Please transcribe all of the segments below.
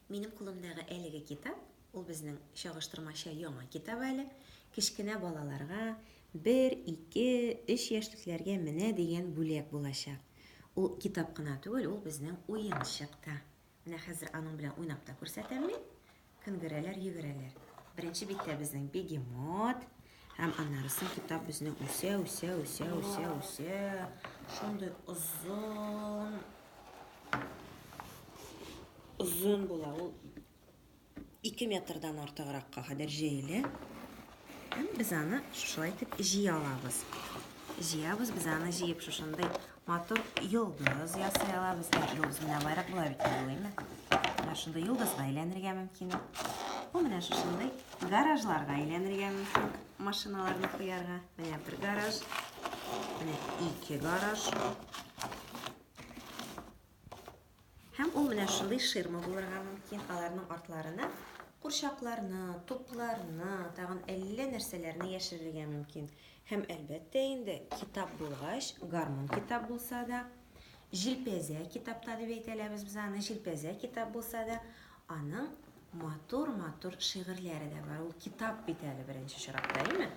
Минем кулымдагы әлеге китап, ул безнең чагыштырмача яңа китап әле, кечкенә балаларга, 1, 2, 3 яшьлекләргә менә дигән бүләк булачак. Ул китап кына түгел, ул безнең уенчык та. Менә хәзер аның белән уйнап та күрсәтәм мин. Кынгырәләр, йөгерәләр. Беренче биттә безнең бегемот. Һәм аннары соң китап безнең үсә, үсә, үсә, үсә, үсә. Шундый озын. Озын була ул. Ике метрдан артыгракка кадәр җәелә. Һәм без аны шулай итеп җыя алабыз. Җыябыз, без аны җыеп шушындай Матур йолдыз ясый алабыз. Йолдыз менә алайрак була бит, уйлыймы? Менә шундый йолдызга әйләнергә мөмкин. Бу менә шушындый гаражларга әйләнергә мөмкин. Машиналарны куярга. Менә бер гараж. Менә ике гараж. Һәм ул менә шундый ширма булырга мөмкин, аларның артларына курчакларны, тупларны, тагын әллә нәрсәләрне яшерергә мөмкин. Һәм әлбәттә инде китап булгач, гармун китап булса да, җилпәзә китапта дип әйтәләбез без аны, җилпәзә китап булса да, аның матур-матур шигырьләре дә бар. Ул китап бит әле беренче чиратта, әйме?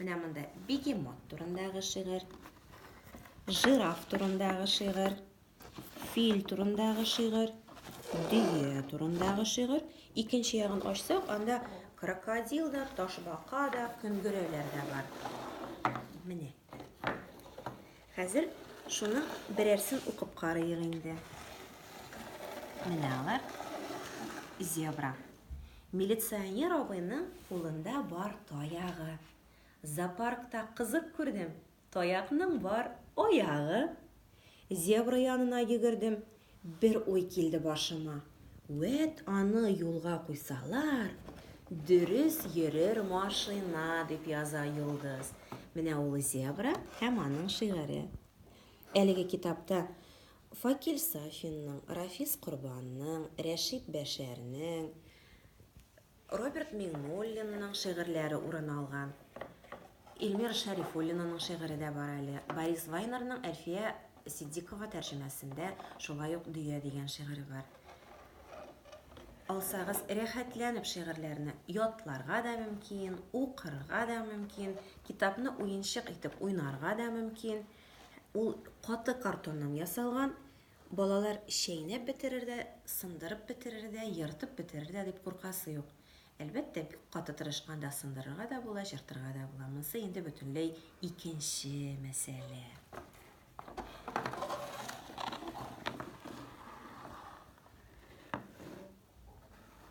Менә монда бегемот турындагы шигырь, жираф турындагы шигырь, Фил турындагы шигырь, дөя турындагы шигырь. Икенче ягын ачсак, анда крокодил да, ташбака да, көнгерәләр дә бар. Менә. Хәзер шуны берәрсен укып карыйк инде. Менә алар. Зебра. Милиционер абыйның кулында бар таягы. Зоопаркта кызык күрдем. Таякның бар аягы. Зебра янына йөгердем. Бер уй килде башыма. Вәт аны юлга куйсалар, дөрес йөрер машина, дип яза Йолдыз. Менә ул зебра һәм аның шигыре. Әлеге китапта Факил Сафинның, Рафис Корбанның, Рәшит Бәшәрнең, Роберт Миңнуллинның шигырьләре урын алган. Илмира Шәрифуллинаның шигыре дә бар әле. Борис Вайнерның Әлфия Ситдикова тәрҗемәсендә шулай ук Дөя дигән шигыре бар. Алсагыз, рәхәтләнеп шигырьләрне ятларга да мөмкин, укырга да мөмкин, китапны уенчык итеп уйнарга да мөмкин. Ул каты картоннан ясалган, Балалар чәйнәп бетерер дә, сындырып бетерер дә, ертып бетерер дә дип куркасы юк. Әлбәттә, бик каты тырышканда сындырырга да була, җыртырга да була. Монсы инде бөтенләй икенче мәсьәлә.